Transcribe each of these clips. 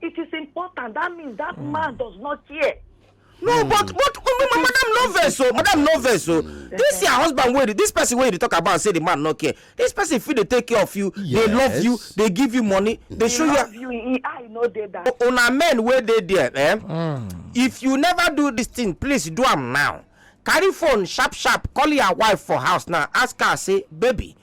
It is important. That means that mm. man does not care. No, mm. but but oh, oh, madam no vex o, oh, madam no vex o. This your husband wey this person wey you talk about say the man no care. This person fit dey take care of you, yes. they love you, they give you money, they, they show love you. you. I know dey that. Una men wey dey there, eh? Mm. If you never do this thing, please do am now. Carry phone sharp sharp, call your wife for house now, ask her say, baby,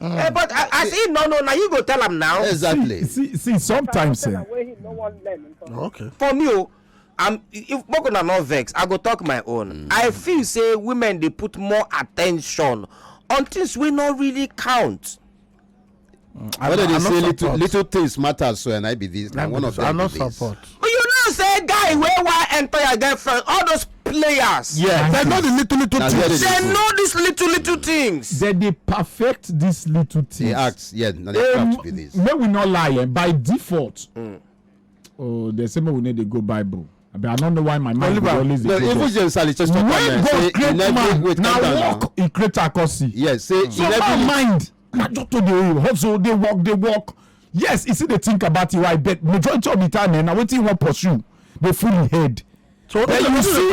Eh, but a- as he no know na you go tell am now exactly see see sometimes eh, Wey he no wan learn nǹkan. okay for me o i'm if make una no vex i go talk my own i feel say women dey put more attention on things wey no really count I what no- dem I dey no say little support. little things matter so and i be this na Let me one of just- I them no be this support. you know say guy wey wan enter your girlfriend all those players. Yeah. They know the little little Now, where things. they dey know these little little things. They dey perfect these little things. They act. Yeah. Now they Um, craft be this. Make we not lie. Eh? By default, mm. oh, they say make we need to go Bible. I, mean, I don't know why my mind Oliver, always no, even James Ali just talk when God create man, now walk, he create a curse. Yes, say so my mind na just to dey hustle dey work dey work yes e still dey think about your wife but majority of the time eh, na wetin you wan pursue dey full im head so then you see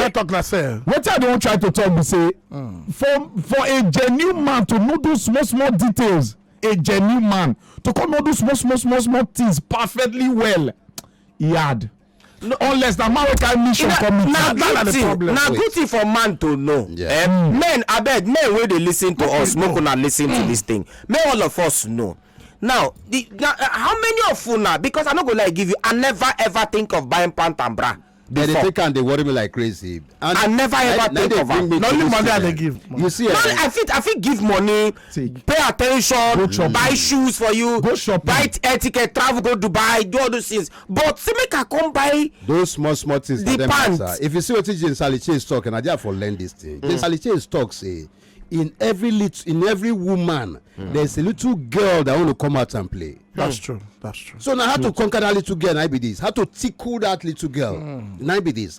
wetin i dey wan try to talk be say hmm. for for a genuine man to know those small small details a genuine man to come know those small small small small things perfectly well e hard no, unless na man wey carry mission come meet na good thing na good thing for man to know yeah. um, men abeg men wey dey lis ten to us make una lis ten to mm. this thing make all of us know now the na uh, how many of una because i no go like give you i never ever think of buying pant and bra before. They take and they worry me like crazy. And I never ever think of am. Na only money I dey give. Money. You see, no, eh? I fit I fit give money, Take. pay attention, go buy shoes for you, go shopping, buy air ticket, travel go Dubai, do all those things. but say make i come buy those small small things the pants matter. if you see wetin jane sally chase talk and i dey for learn this thing mm. jane sally chase talk say in every little in every woman mm. there's a little girl that want to come out and play. that's mm. true that's true. so now how to conquer that little girl na be this how to tickle that little girl mm. na be this